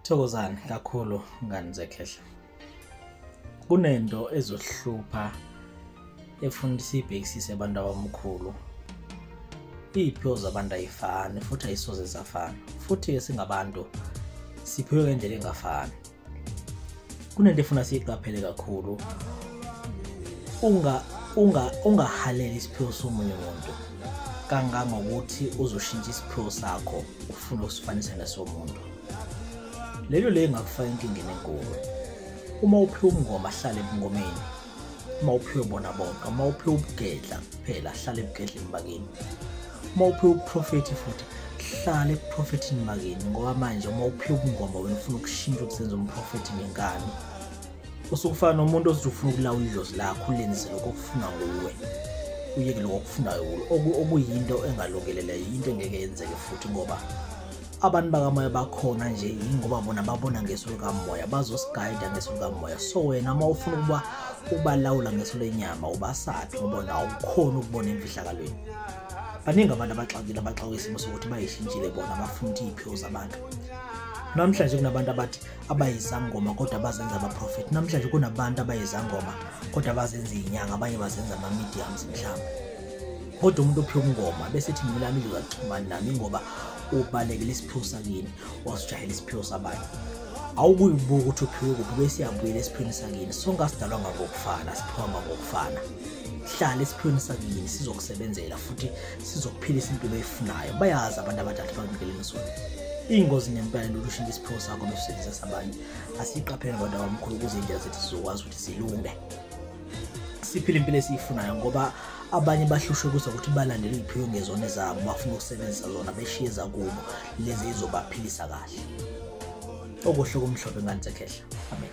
thokozani kakhulu ngani zekhehla kunento ezohlupha efuna ukuthi siyibhekisise abantu abamkhulu iy'phiwo zabantu ayifani futhi ayisoze zafana futhi-ke singabantu siphiwe ngendlela engafani kunento efuna siyiqaphele kakhulu unga unga ungahaleli isiphiwo somunye umuntu kangangokuthi uzoshintsha isiphiwo sakho ufuna ukusifanisa nesomuntu lelo le ngakufaka inkingeni enkulu uma uphiwa umngoma ahlale ebungomeni uma uphiwe bona bonke uma uphiwe ubugedla kuphela hlale ebugedleni bakini uma uphiwe ubuprofethi futhi hlale ebuprofethini bakini ngoba manje uma uphiwe ubungoma wena ufuna ukushintsha ukusenza umprofethi ngenkani usukufana nomuntu ozothi ufuna ukulawula idlozi lakho ulenze lokho okufuna nguwe uyeke lokho okufunayo okuyinto engalungelele yinto engeke yenzeke futhi ngoba abantu bakamoya bakhona nje yingoba bona babona ngeso likamoya bazosigayida ngeso likamoya so wena uma ufuna ukuba ubalawula ngeso lenyama ubasaphi ngoba nawo ukhona ukubona emfihlakalweni baningi abantu abaxakile abaxakwe isimo sokuthi bayishintshile bona bafuna ukuthi iy'phiwo zabantu namhlanje kunabantu abathi abayizangoma kodwa bazenza abaprofethi namhlanje kunabantu abayizangoma kodwa bazenza iy'nyanga abanye bazenza ama-mediums mhlawumbe kodwa umuntu ophiwa umngoma bese ethi mina lami ngizaxhumani nami ngoba ubalekela isiphiwo sakini wasijahela isiphiwo sabanye awukuyibuka ukuthi uphiwe kuphi bese iyabuyela esiphweni sakini sonke asidalwa ngangokufana siphiwa ngangokufana hlala esiphweni sakini sizokusebenzela futhi sizokuphilisa impilo eyifunayo bayazi abantu abadala bamkeleni sona iyingozi ngempela into yokushintsha isiphiwo sakho besebenzisa sabanye asiyiqaphele abantu abamkhulu ukuze indlela zethu zizokwazi ukuthi zilunge siphile impilo esiyifunayo ngoba abanye bahlushwe kuza ukuthi balandele iy'phiwe ngezona zabo bafuna ukusebenzisa zona beshiye zakubo lezi ezizobaphilisa kahle okuhle kumhlophe ngani zekhehla amen